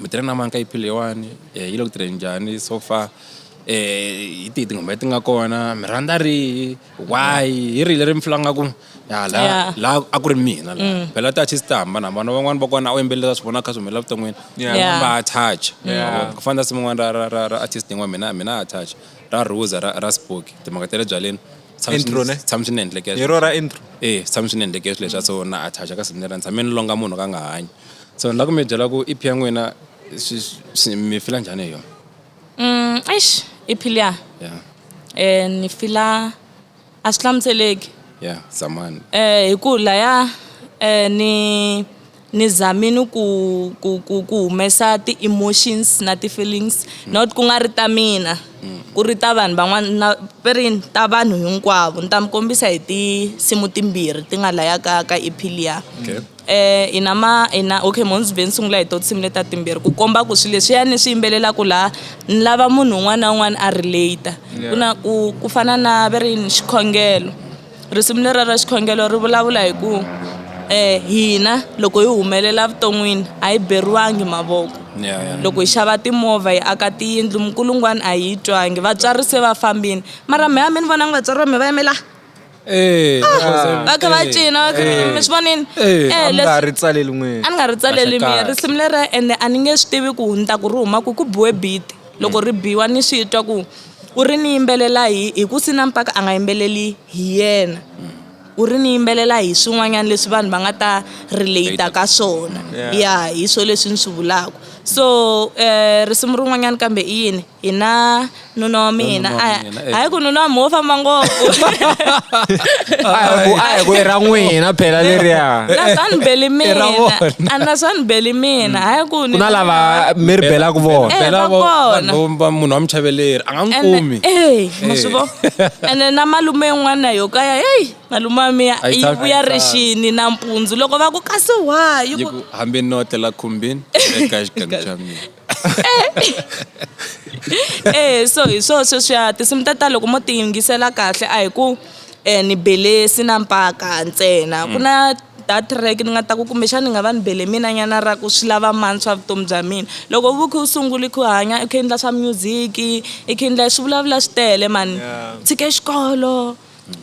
mitirho na manka yi phile yewani eh, yi le ku tirheni njhani so far eh hi tihi tinghoma leti nga kona mi rhandza rihi why hi rihi leri mi fulanga ku ya la Yeah. la a ku ri mina la Mm. phela ti artist ta hambana hambana van'wani va kona a wu yimbelela swi vona kha swi humelela vuton'wini Yeah. van'wani va attach Yeah. ku fana na simu n'wana ra ra ra ra artist yin'wana mina mina a attach ra ruza ra ra spoki timhaka ta le byaleni Tshama swi- Intro, ne? tshama swi ni endleke Hi ro ra intro eh tshama swi ni endleke swilo leswa so na attach ka simu lera ni tshame ni longa munhu ka nga hanyi so ni la ku mi byela ku ep ya n'wina mi fila njhani hi yona mm, eish ep liya yeah. eh, ni fila a swi hlamuseleki yeah zamani eh, hi ku laya eh, ni ni zamini ku ku ku ku humesa ti-emotions na ti-feelings mm. not ku nga ri ta mina mm. ku ri ta vanhu van'wana na perini ta vanhu hinkwavo ni ta mi kombisa hi tinsimu timbirhi ti nga laya ka ka ep liya okay. hi na ma hi na okay Mondzuben ni sungula hi to tinsimu leti ta timbirhi ku komba ku swilo leswiya ni swi yimbelelaka laha ni lava munhu un'wana na un'wana a relate ku na ku ku fana na va ri yini xikhongelo risimu lera ra xikhongelo ri vulavula hi ku um hina loko hi humelela vuton'wini a yi beriwangi mavoko loko hi xava timovha hi aka tiyindlu minkulungwani a yi yi twangi vatswari se va fambini mara mehe a mi ni vonangi vatswari va mi va yime la. Eh, ah, va kha va eh, cina va kha eh. mi swi vonini eh, a mi nga ri tsaleli n'wini a ni nga ri tsaleli mina risimu lera ende a ni nge swi tivi ku ni ta ku ri huma ku ku biwe biti loko ri biwa ni swi twa ku u ri ni yimbelela hi hi ku sina mpaka a nga yimbeleli hi yena u ri ni yimbelela hi swin'wanyana leswi vanhu va nga ta relate ka swona ya hi swo leswi ni swi vulaka so um risimu rin'wanyana kambe i yini hi na nuna wa mina a eh. hayi ku nuna wa mi wo famba ngopfu a hi ku i ra n'wina phela leriya na swa ni beli mina a na swa ni beli mina hayi ku ku na lava mi ri belaka vona eh, bela vona va munhu wa muchaveleri a nga n'wi kumi eh ma swi vo eh. ene na malume yin'wana yo kaya hey malume wa miya yi vuya rixini nampundzu loko va ku kasi wayi hambi ni otlela khumbini eka xikan'we xa mina eh so hi swo sweswiya tinsimu ta ta loko mo ti yingisela kahle a hi ku um ni bele sina mpaka ntsena ku na that track ni nga ta ku kumbexana ni nga va ni bele mina nyana ra ku swi lava mani swa vutomi bya mina loko vu khe u sunguli ku hanya i khe i endla swa music i khe i endla swi vulavula swi tele mani tshike xikolo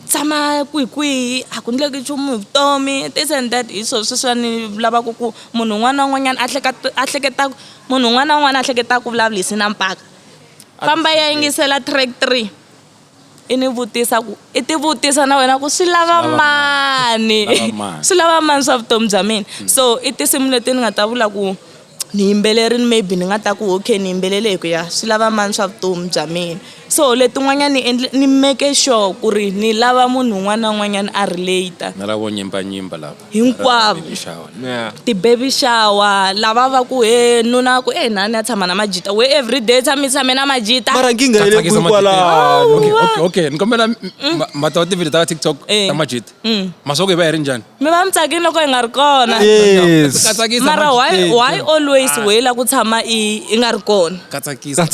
tshama kwihikwihi a ku endleki nchumu hi vutomi this and that hi swo sweswiya ni lavaka ku munhu un'wana na un'wanyana a hleketa a hleketa munhu un'wana na un'wana a hleketa ku vulavurisi na mpfaka famba ya yingisela track three i ni vutisa ku i ti vutisa na wena ku swi lava mani swi lava mani swa vutomi bya mina so i tinsimu leti ni nga ta vula ku. ni yimbeleri ni maybe ni nga ta ku okay ni yimbelele hi ku ya swi lava mani swa vutomi bya mina so letin'wanyani ni endle ni make sure ku ri ni lava munhu un'wana na un'wanyana a relate na lavo nyimba nyimba lava hinkwavo ti-baby shower lava va ku he nuna ku e na ni ya tshama na majita we every day tshami tshame na majita mara nkinga yi le kwihi kwalano okay ni kombela mata wa tivhidiyo ta tiktok ta majita masoko hi va hi ri njhani mi va mi tsakile loko hi nga ri kona yes Ka tsakisa mara why Majikete. why always we la ku tshama i i nga ri kona Ka tsakisa.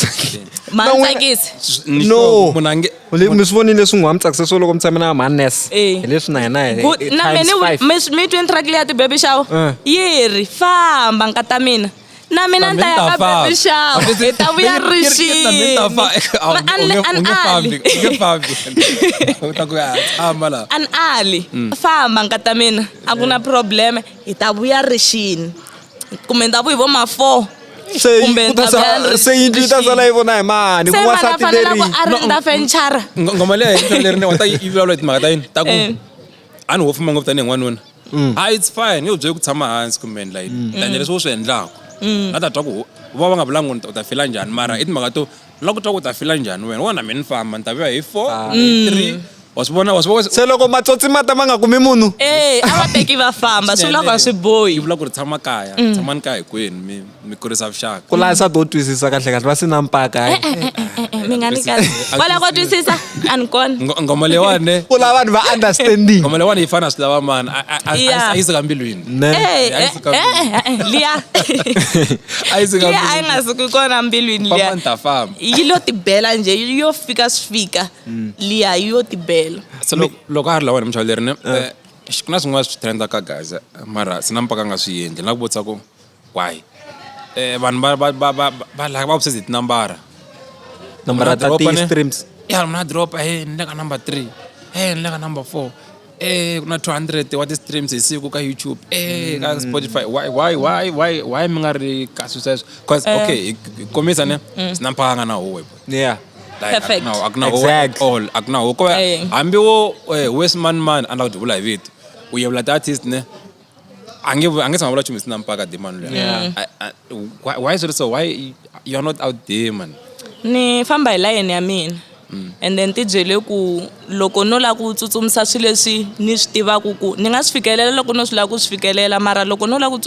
ma No, wena- tsakisi Ni No. sure munhu a nge- Le- mi swi vonile leswi n'wi wa mi tsakisa swo loko mi tshame na manes Eh. hi leswi na hina hi- Good. hi na times mene five. mi mi twe ni track leya ti baby shower Eh. yi ri famba nkata mina na mina ni ta ya ka baby shower hi ta vuya ri xinian ali mm. famba nkata mina a ku na probleme hi ta vuya ri xini kumbe ndhavu hi vo ma four se yindlu yi ta sala yi vona hi mani ku wansati leri ngoma leyi leri ni wa ta yi vulavula hi timhaka ta yini ta ku eh. a ni wo fuma ngopfu tanihi n'wanuna mm. a it's fine nge byele ku tshama hansi kumbe like mm. tanya leswi u swi endlaka mm. na ta twa ku va va nga vulanga u ta fila njhani mara i timhaka to la ku twa ku ta fila njhani wena wona mi ni famba ni ta vuya hi four ah. hi three wasibona wasibona se loko matsotsi ma ta ma nga kumi munhu e a va teki va famba swi vulaka swi bohi yi vula ku ri tshama kaya tshamani kaya hikwenu mi mi kurisa vuxaka ku laha nsati wo twisisa kahle kahle va si na mpaka eh, eh, eh, mi nga ni kahle va lava ku twisisa a ni kona ngoma leyiwani ku lava vanhu va understanding ngoma leyiwani yi fana swi lava mani a yi suka mbilwini liya a yi suka a yi nga suki kona mbilwini liya yi lo tibela nje yo fika swi fika mm. liya yi yo tibela loko a ri lawani muchawuleri ne ku na swin'wana swi trendaka gaza mara sina mpaka nga swi yendli na ku vutisa ku Why? Eh, vanhu va va va va va like va obsessed hi tinambara Nambara ta ti streams. ya mna dropa he ni le ka number three he ni le ka number four e ku na 200 wa ti-streams hi siku ka youtube e ka spotify why why why why why mi nga ri kasi sweswo bcause okay hi- hi kombisa ne swi na mphaka nga na huwe Yeah. Like, Perfect. a ku na- a ku na huwe Exact. at all a ku na huwe ko Eh. hambi wo eh, wes man man a ni lava ku ti vula hi vito u yevula ti-artist ne angetse mabula tšhomo se nampaka demon yeah. I, I, why, why is it so why you're not out there man ni famba hi layeni ya mina mm. and then ti byele ku loko no lava ku tsutsumisa swilo leswi ni swi tivaka ku ni nga swi fikelela loko no swi lava ku swi fikelela mara loko no lava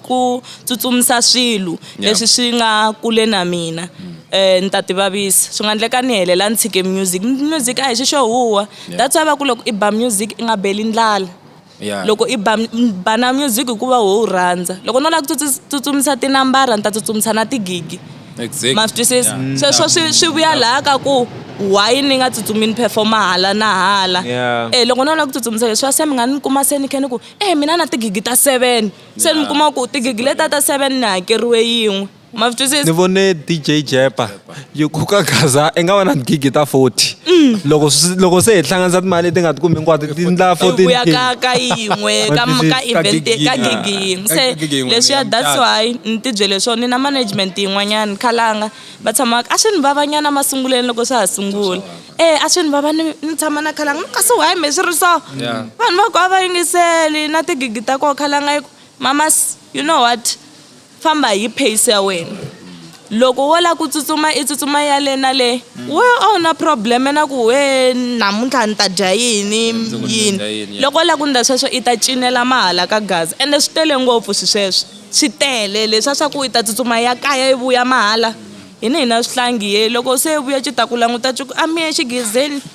ku tsutsumisa swilo leswi swi nga kule na mina mm. eh ni ta ti vavisa swi nga endleka ni helela ni tshike music music a hi xi xo huwa that's why va ku loko i ba music i nga beli ndlala Yeah. loko i ba m- ba na music hikuva wo wu rhandza loko no lava ku tsutsu- tsutsumisa tinambara ni ta tsutsumisa na tigigi Exactly. ma swi twisisa Yeah. sweswo swi swi vuya laha ka ku why ni nga tsutsumi ni performa hala na hala Yeah. eh loko no lava ku tsutsumisa leswiwa se mi nga ni kuma se ni khe ni ku eh mina na tigigi ta seven se ni mi kuma ku tigigi leta ta seven ni hakeriwe yin'we ma swi twisisa ni vone dj jepa yi khuka gaza i nga va na gigi ta 40 mm. loko loko se hi hlanganisa timali leti nga ti kumi hinkwato ti ndla 14 ya ka ka yin'we ka ka event ka gigi yin'we se leswi ya that's why ni ti byele swona ni na management yin'wanyana khalanga va tshama a swi ni vavanyana masunguleni loko swa ha sungula eh a swi ni vava ni tshama na khalanga kasi why me swi ri so vanhu va ku a va yingiseli na tigigi ta koho khalanga yi ku mamas you know what Famba hi pace ya wena. Loko wo la ku tsutsuma i tsutsuma ya le na le. We a wu na problem na ku wee namuntlha ni ta dya yini yini. Loko wo la ku ndla sweswo i ta cinela mahala ka gaza ende swi tele ngopfu swi sweswo. Swi tele leswa swa ku i ta tsutsuma ya kaya i vuya mahala. Hina hi na swihlangi he loko se i vuya ci ta ku languta ci ku a mi ye exigezeni.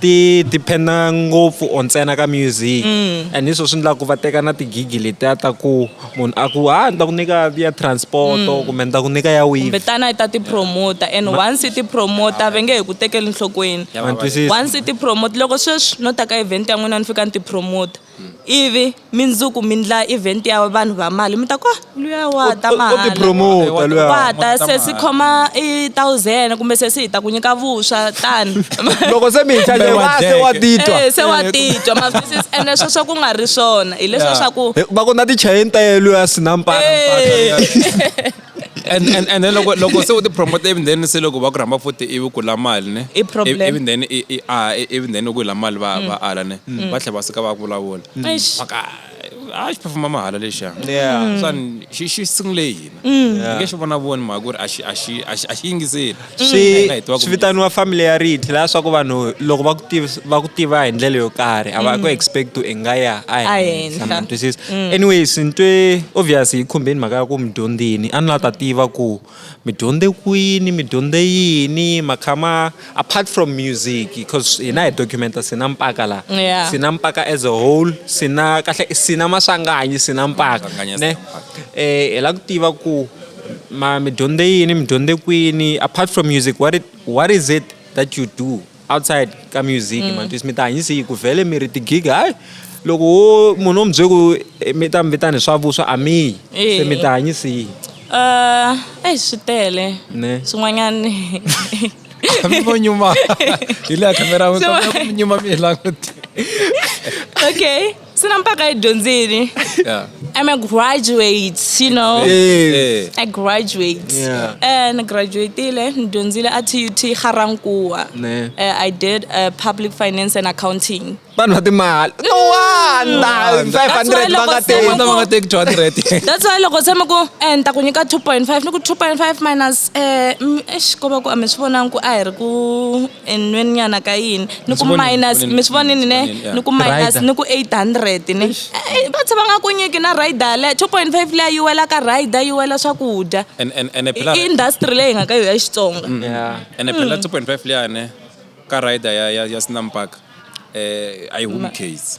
ti depend-a ngopfu or ntsena ka music and hi swo swi endlaku va teka na ti-gig-i letiya ta ku munhu a ku ha ni ta ku nyika ya transport-o kumbe ni ta ku nyika ya wini kumbe tana yi ta tipromota and once yi tipromota va nge he ku tekeli nhlokweni Ya, ma ni twisisa. once yi tipromota loko sweswi no ta ka event ya n'wina ni fika ni tipromota hmm. ivi mindzuku mi ndla event ya vanhu va mali mi ta ku ah, luya wa ta mahalawata se si khoma i thousand kumbe se si hi ta ku nyika vuswa tani loko se mi hi chaje wa se wa titwa eh, se wa titwa mavisi ene sweswo ku nga ri swona hileswo swa ku va ku na tichayeni ta yeluya sinampana eh. and and and then loko loko se u ti promote even then se loko va ku rhamba futhi ivi ku la mali ne I problem. even then i i ah even then loko yi la mali va va ala ne va tlhe va suka va vulavula Eish. maka a xi performa mahala lexa Yeah. swan xi xi sungule hina nge xi vona voni mhaka ku ri a xi a xi a xi a xi yingiseli swi swi vitaniwa familiarity laha swa ku vanhu loko va ku tiva va ku tiva hi ndlela yo karhi a va ku mm. expect u nga ya a henhla ma twisisa mm. anyways ni twe obvious yi khumbeni mhaka ya ku mi dyondzini a ni la ta tiva ku mi dyondze kwini mi dyondze yini makhama apart from music because hina hi documenta sina mpaka la sina mpaka as a whole sina kahle sina maswanganyi sina mpaka ne eh hi la ku tiva ku ma mi dyondze yini mi dyondze kwini apart from music what, it, what is it that you do outside ka music mm. matwisi mi ta hanyisa yi ku vhele mi ri tigiga hayi loko wo munhu wo mi bye ku eh, mi ta mi vitani swa vuswa a miyi se mi ta hanyisa yi uh, eyi swi tele swin'wanyani amivo nyuma hi leya khamera mi nyuma mi hi languti okay Sina mpaka edyondzini. Yeah. I'm a graduate, you know. Hey. I graduate. Yeah. And I graduated and dyondzile at UT Ga-Rankuwa. Ne. Uh, I did uh, public finance and accounting. Vanhu va timali. No wonder. 500 That's why va nga loko se teki. Vanhu va nga teki 200. That's why loko se mi ku eh ni ta ku nyika 2.5 ni ku 2.5 minus eh mm, eish ko va ku a mi swi vonangi ku a hi ri ku enweni nyana ka yini ni ku minus mi swi vonini ne ni ku minus ni ku 800 ne eh, va tshe va nga ku nyiki na rider le 2.5 leya yi wela ka rider yi wela swakudya i industry leyi nga ka yo ya xitsonga mm. ene phela 2.5 mm. leya ne ka rider ya ya ya snam park eh ayi home case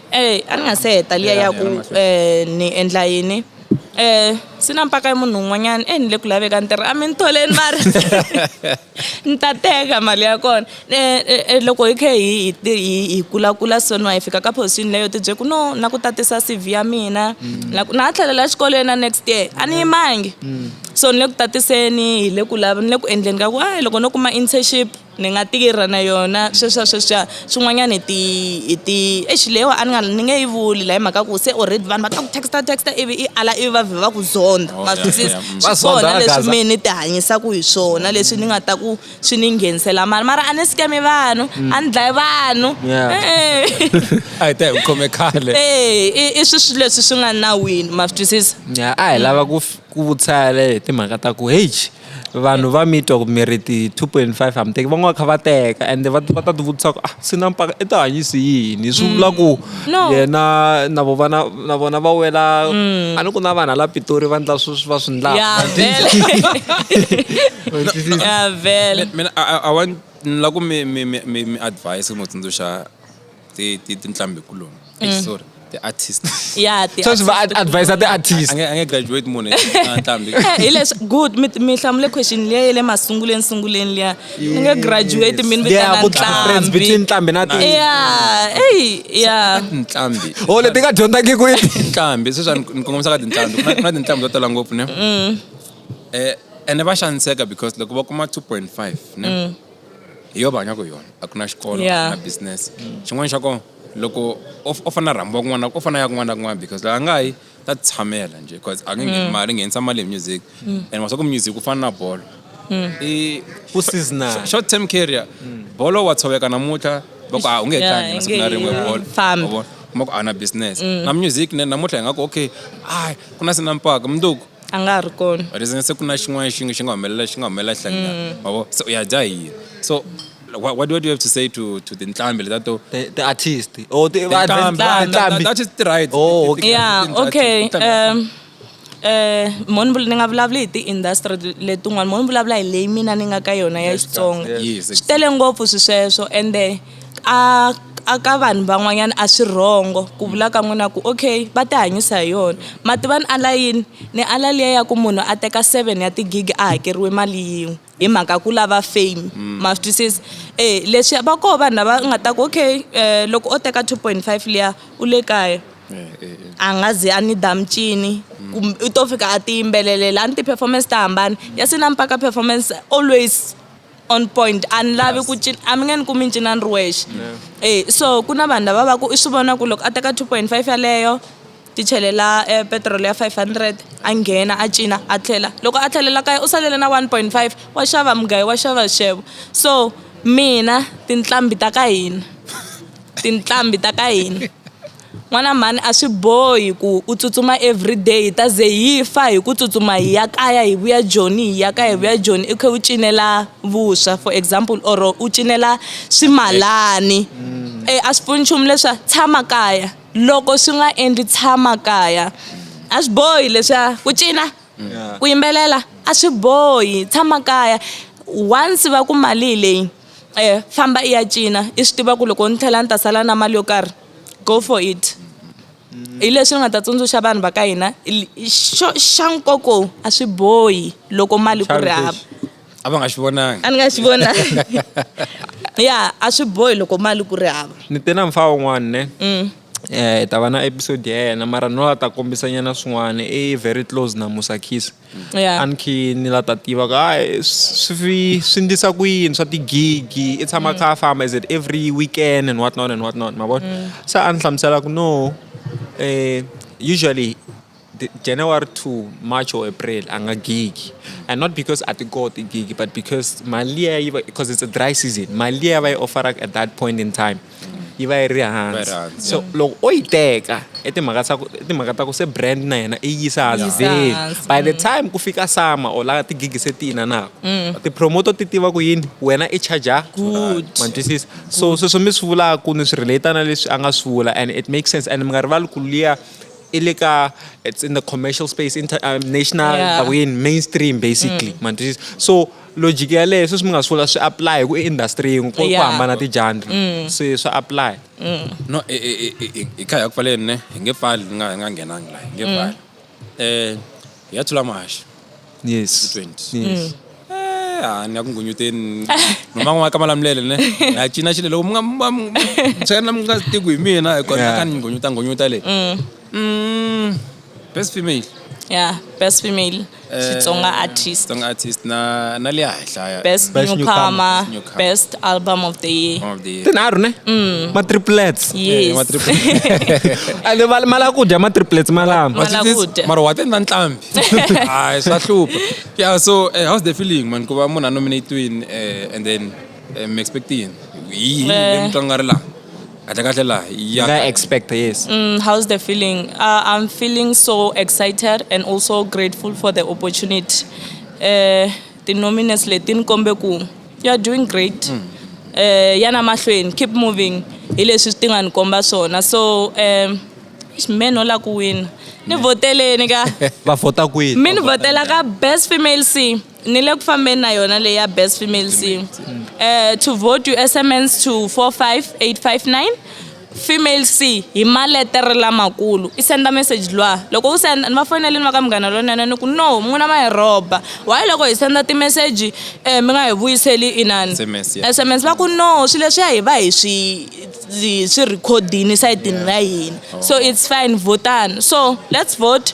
Eyi a ni nga se heta liya ya ku ni endla yini se na mpaka ya munhu un'wanyana e ni le ku laveka ni tirha a mi ni tholeni mara ni ta teka mali ya kona loko hi kha hi hi hi hi kulakula so ni va hi fika ka position leyo ti byela ku no na ku tatisa C_V ya mina na ku na ha tlhelela exikolweni na next year a ni yimangi so ni le ku tatiseni hi le ku ni le ku endleni ka ku a loko no kuma internship. ni nga tirha na yona sweswiya sweswiya swin'wanyana hi ti hi ti exi leyiwa a ni nga ni nge yi vuli la hi mhaka ku se already vanhu va ta ku texta texta ivi i ala ivi va vhe va ku zonda ma swi twisisa mm. swi kona leswi mina ni ti hanyisaka hi swona leswi ni nga ta ku swi ni nghenisela mali mara a ni sikemi vanhu mm. a ni dlayi vanhu a hi ta hi khome khale e i swi swi leswi swi nga nawini ma swi twisisa a hi lava ku ku vutisa le timhaka ta ku heyi vanhu va mitwa ku mi ri ti-two point five a mi teki van'wana va kha va teka ende va va ta tivutisa ku ah swi na mpaka i tihanyisi yini swi vula ku mm. no. yena na vo vana na vona va wela mm. a ni ku na vanhu ala pitori va ndla swi va swi ndlakamina a wa ni la ku mi mi mi mi advise mi tsundzuxa ti ti tinhlambi kuloni mm. Eish, sorry the artist ya ti so swi va advisor the artist ange ange graduate munhu nhlambi eh, hi leswi good mi hlamule question liya yele masunguleni sunguleni liya ni nge graduate mi ni vitana nhlambi between nhlambi na ti ya hey ya nhlambi oh leti nga dyondzaki ku yi nhlambi sweswi ni kongomisa ka tinhlambi ku na tinhlambi to tala ngopfu ne mm. eh ene va xaniseka because loko va kuma 2.5 ne mm. hi yo va hanyaka hi yona a ku na xikolo yeah. na business xin'wana xa kona loko o fana rhambiwa kun'wana o fana ya kun'wana na kun'wana because loko a nga yi ta tshamela nje because a nge ngheni mm. mali nghenisa mali hi music mm. and maswaku music ku fana na bolo mm. i ku seasonal short term career bolo wa tshoveka namuntlha va ku a ah, u nge tlangi na siku na rin'we bolo kuma ku a na business na music namuntlha hi nga ku okay ai ku na sinampaka mundzuku a nga ha ri kona reason se ku na xin'wana xi xi nga humelela xi nga humelela hlangana mm. mavo se u ya dya hi yini so what, what, what do you have to say to to tinhlambi leta to the, the artist or oh, the tinhlambi that is right oh okay yeah okay um eh moni ni nga vulavula hi ti-industry letin'wana moni vulavula hi leyi mina ni nga ka yona ya xitsonga swi tele ngopfu swi sweswo ende A ka vanhu van'wanyana a swi wrong-o ku vula ka n'wina ku okay va ti hanyisa hi yona. Ma tiva ni ala yini? Ni ala liya ya ku munhu a teka seven ya ti-gig a hakeriwe mali yin'we hi mhaka ku lava fame ma swi twisisa. E leswi va koho vanhu lava nga ta ku okay loko o teka two point five liya u le kaya a nga zi a ni dya mincini kumbe u to fika a ti yimbelelela a ni ti-performance ta hambana ya se na mpaka performance always. on point a ni lavi ku cina a mi nge ni kumi ni cina ni ri wexe e so ku na vanhu lava va ku i swi vona ku loko a teka two point five yaleyo ti chelela um petrol ya five hundred a nghena a cina a tlhela loko a tlhelela kaya u salele na one point five wa xava mugayo wa xava xixevo so mina tinqambi ta ka hina tinqambi ta ka hina N'wana mhani a swi bohi ku u tsutsuma everyday hi ta ze hi fa hi ku tsutsuma hi ya kaya hi vuya joni hi ya kaya hi vuya joni i kha u cinela vuswa for example or u cinela swimalani e a swi pfuni nchumu leswiya tshama kaya loko swi nga endli tshama kaya a swi bohi leswiya ku cina ku yimbelela a swi bohi tshama kaya once va ku mali hi leyi famba i ya cina i swi tiva ku loko ni tlhela ni ta sala na mali yo karhi. go for it hi leswi ni nga ta tsundzuxa vanhu va ka hina xo xa nkoka a swi bohi loko mali ku ri hava a va nga xi vonangi a ni nga xi vonangi ya a swi bohi loko mali ku ri hava ni te na mfa wun'wana ne mm. eh hi ta va na episode ya yena mara no a ta kombisa nyana swin'wana i very close na musa kiss yeah. anki ni la ta tiva ku hayi swi swi ndlisa ku yini swa tigigi i tshama mm. kha a famba is it every weekend and what not and what not ma vona mm. se a ni hlamusela ku no eh usually January to March or April a nga gigi and not because a ti koti gigi but because mali ya yi because it's a dry season mali ya va yi offeraka at that point in time yi va yi ri hansi so loko o yi teka i timhaka ta ku i timhaka ta ku se brand na yena i yisa hansi vheli by the time ku fika sama or laha tigigi se ti inanaka mm. ti-promoter ti tiva ku yini wena i charger ma twisisa so sweswo mi swi vulaka ni swi relate na leswi a nga swi vula and it makes sense and mi nga rivali ku liya i le ka it's in the commercial space inter, uh, national yeah. mainstream basically mm. ma twisisa so logic ya leyo sweswi mi nga sula swi apply hi ku i industry yin'we ku ku Yeah. hambana tijandri Mm. se swa apply no e- e- e- e- e- hi kha hi ya ku pfaleni ne hi nge pfali ni nga hi nga nghenangi laha hi nge Mm. pfali um hi ya thula mahaxi yes twenty Yes. Mm. Eh, a ni ya ku ngunyuteni noma n'wana ka malamulele ne na cina xile loko mi nga mi- mi- mi- mi- tshena mi nga tiku hi mina hikuva Yeah. ka ni ngunyuta ngunyuta leyi Mm. Mm, best female yeah best female xitsonga eh, artist xitsonga artist na na le henhlaya best, best newcomer, newcomer best album of the year of the year tinharhu ne mm. ma triplets yes ma triplets ale mala ku dya ma triplets malama mala ku dya mara wa tenda ntlambi hayi swa hlupha yeah so uh, how's the feeling man ku va munhu a nominate win uh, eh, and then Eh, mi expect yini yini Eh. leyi mi twa nga ri laha kahle kahle laha ya nga expect yes Mm, how's the feeling? Uh, I'm feeling so excited and also grateful for the opportunity. Uh, the nominees letin kombe ku you're doing great. Uh, yana mahlweni, keep moving. Hi leswi ti nga ni komba swona. So um, eish, men ola ku wina. Ni voteleni ka. va vhota kwini Mi ni votela ka best female sing. ni le ku fambeni na yona leyi ya best female singer um eh, to vote you sms to 45859 female c hi maletere lamakulu i senda message lwa loko u senda ni va fonele ni va ka munghana lonene ni ku no n'wina ma hi rhoba why loko hi senda timeseji um eh, mi nga hi vuyiseli inani sms va ku no swilo leswiya hi va hi swi swi rhikhodini sayitini ra hina oh. so it's fine votani so let's vote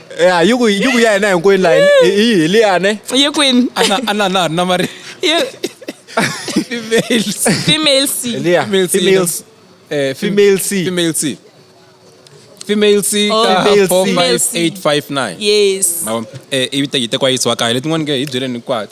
ya yi ku yi ku ya hina hinkwenu la hi hi hi liyane ye kwini ana ana na na mari Ye- females female c liya Female C, females eh female c female C female C Oh. ka Female C. 45859 yes Mavona, eh, ivi te- yi tekiwa yi isiwa kaya letin'wana ke hi byeleni hinkwato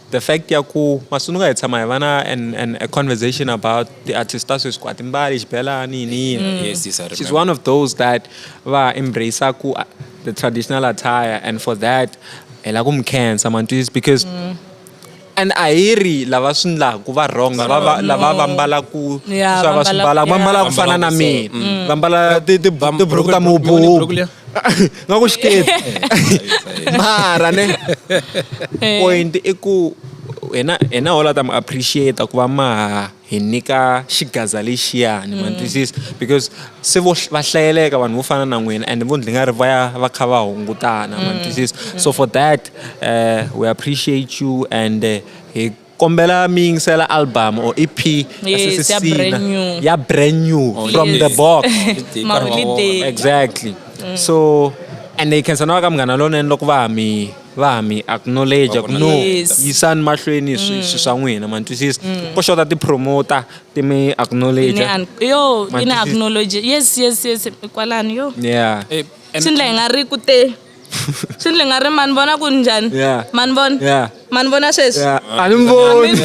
The fact ya ku masununga hi tshama hi va na an, an, a conversation about the artist ta sweswi ku a timbali xibelani yini yini mm. yes, yes, she's one of those that va embrace ku uh, the traditional attire and for that hi la ku mi khensa mantwisi because mm. and a hi ri lava swi ndlaku va wrong lava lava va mbalaku swa va swi mbala va mbala ku fana na mina mm. va mbala tiburuku ta mububu nga ku xiketi mara ne eh. point i ku hina hina hola ta mi appreciate ku va ma hi nyika xigaza lexiyani mm. mantwisisa because se vo va hlayeleka vanhu vo fana na n'wina and vo ndzi nga ri va ya va kha va hungutana mm. mantwisisa so for that uh, we appreciate you and uh, hi kombela mi yingisela album or ep ya Yes, Sisi ya Sina, brand new. ya brand new from the Yes. box Maholiday. exactly so and they can sana va ka munghana lonene loko va ha mi va ha mi acknowledge Va ku vona no Yes. yisani mahlweni swi swi swa n'wina ma ni twisisa ko xota ti-promoter ti mi acknowledge Ine an- yo ine Mantwisisa. acknowledge yes yes yes kwalani yo yeah Eh, and- swi ndla hi nga ri ku te swi ndli nga ri ma ni vona ku ni njhani ma ni vona ma ni vona sweswi a ni mi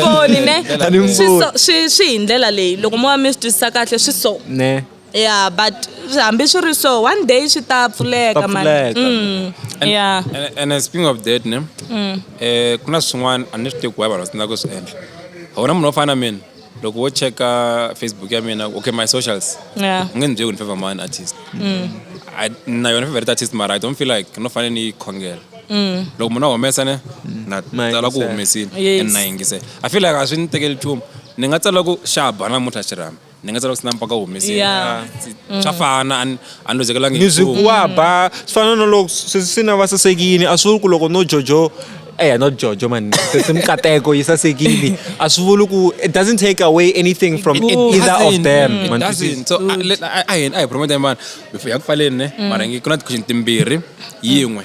voni ne swi swi hi ndlela leyi loko mo va mi swi twisisa kahle swi so yeah but hambi swi ri so one day swi ta pfuleka mani mm, yeah and speaking of that ne mm. eh ku na swin'wana a ni swi tekiwa vanhu va tsandzaka ku swi endla a wu na munhu wo fana na mina loko wo cheka facebook ya mina okay my socials yeah. u nge ni byeli ku ni favor mani artist mm. I, na yona favorite artist mara i don't feel like no fanele ni yi khongela mm. loko munhu a humesa ne mm. na tsala ku humesile and na yingisela i feel like a swi ni tekeli nchumu ni nga tsala ku xaba namuntlha xirhami ni nga tsala ku sinampaka humesile swa fana a ni lozekelangi ni byi wa ba swi fana na loko swi swi na va sasekini a swi vuli ku loko no jojo eh no jojo man sesi mikateko yi sasekile a swi vuli ku it doesn't take away anything from It either of doesn't. them It man. doesn't. So, a- le- a- a hi a hi promote vanhu before ya ku pfaleni ne mara ngi ku na tikhixini timbirhi yin'we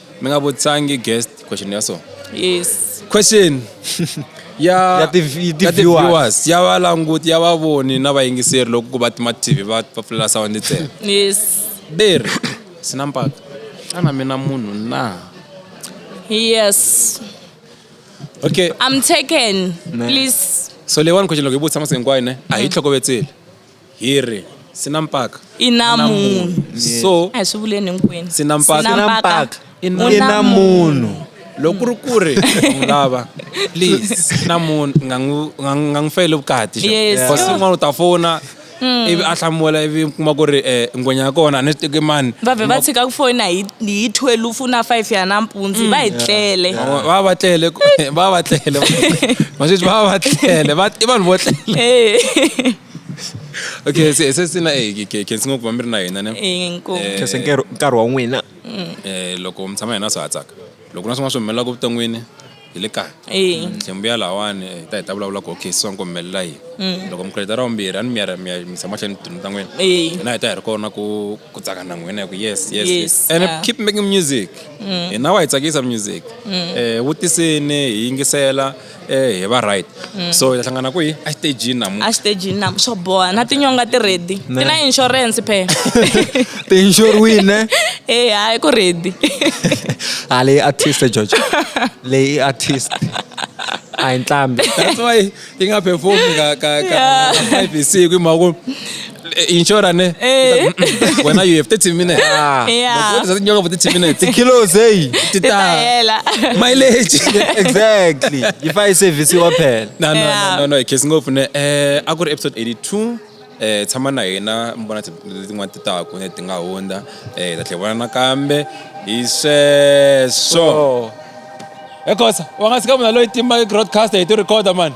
mi nga vutisangi guest question ya so yes question ya ya ti viewers ya valanguti ya vavoni na vayingiseri loko ku va tima tv va va pfulela sawundi ntsena yes beri swi na mpaka xana mina munhu na yes okay i'm taken please so leyiwani question loko yi vutisa masiku hinkwayo ne a hi tlhokovetseli Hi ri, Swi na mpaka. I na munhu. So. A hi swi vuleni hinkwenu. Swi na mpaka. Swi na mpaka. I na munhu. Loko ku ri ku ri n'wi lava please swi na munhu nga n'wi nga n'wi fayeli vukati. Yes. Kasi un'wana u ta fona. Mm. ivi a hlamula ivi kuma ku ri um eh, ngwenya ya kona a ni swi teki mani va vhe va tshika ku foyina hi hi thwelufu na five ya nampundzu va hi mm. tlele va va tlele va va tlele va sweswi va va tlele i vanhu vo tlele okay se se sina e eh, ke ke singo ku vambiri na hina ne eh, eh, ke se nkarhi nkarhi wa n'wina mm. eh loko mi tshama hina swi hatsaka loko na swin'wana swi humelelaka evuton'wini hi le kaya hlembuyela lawani hi ta hi ta vulavula ku okay siswa nkomi melela yini mm. loko mikreta ra vumbirhi a ni miyara miya misa mahlweni tindlu ta n'wina hina hi ta hi ri kona ku ku tsaka na n'wina hi ku yes yes yes and keep making music mm. hina wa hi tsakisa music um vutiseni hi yingisela eh hi va right so hi ta hlangana kwihi exitejini namuntlha exitejini nam swo boha na tinyonga ti ready ti na insurance phe ti-insure win ne e hayi ku ready ha leyi artist george leyi i artist a hi ntlhambi that's why yi nga performi ka ka ka five hi siku hi mhaka ku inshora ne Eh. wena you have 30 minutes ah Yeah. what is that nyoka for 30 minutes kilos eyi tita Hela. mileage exactly yifa isevhisi waphela no no Yeah. no no no case ngopfu ne eh a ku ri episode 82 eh tshama na hina mi vona ti- letin'wana ti taku ne ti nga hundza eh hi ta tlhe vona nakambe hi sweswo Oh. ekhosa wa nga sika munhu loyi timba broadcaster hi ti recorder mani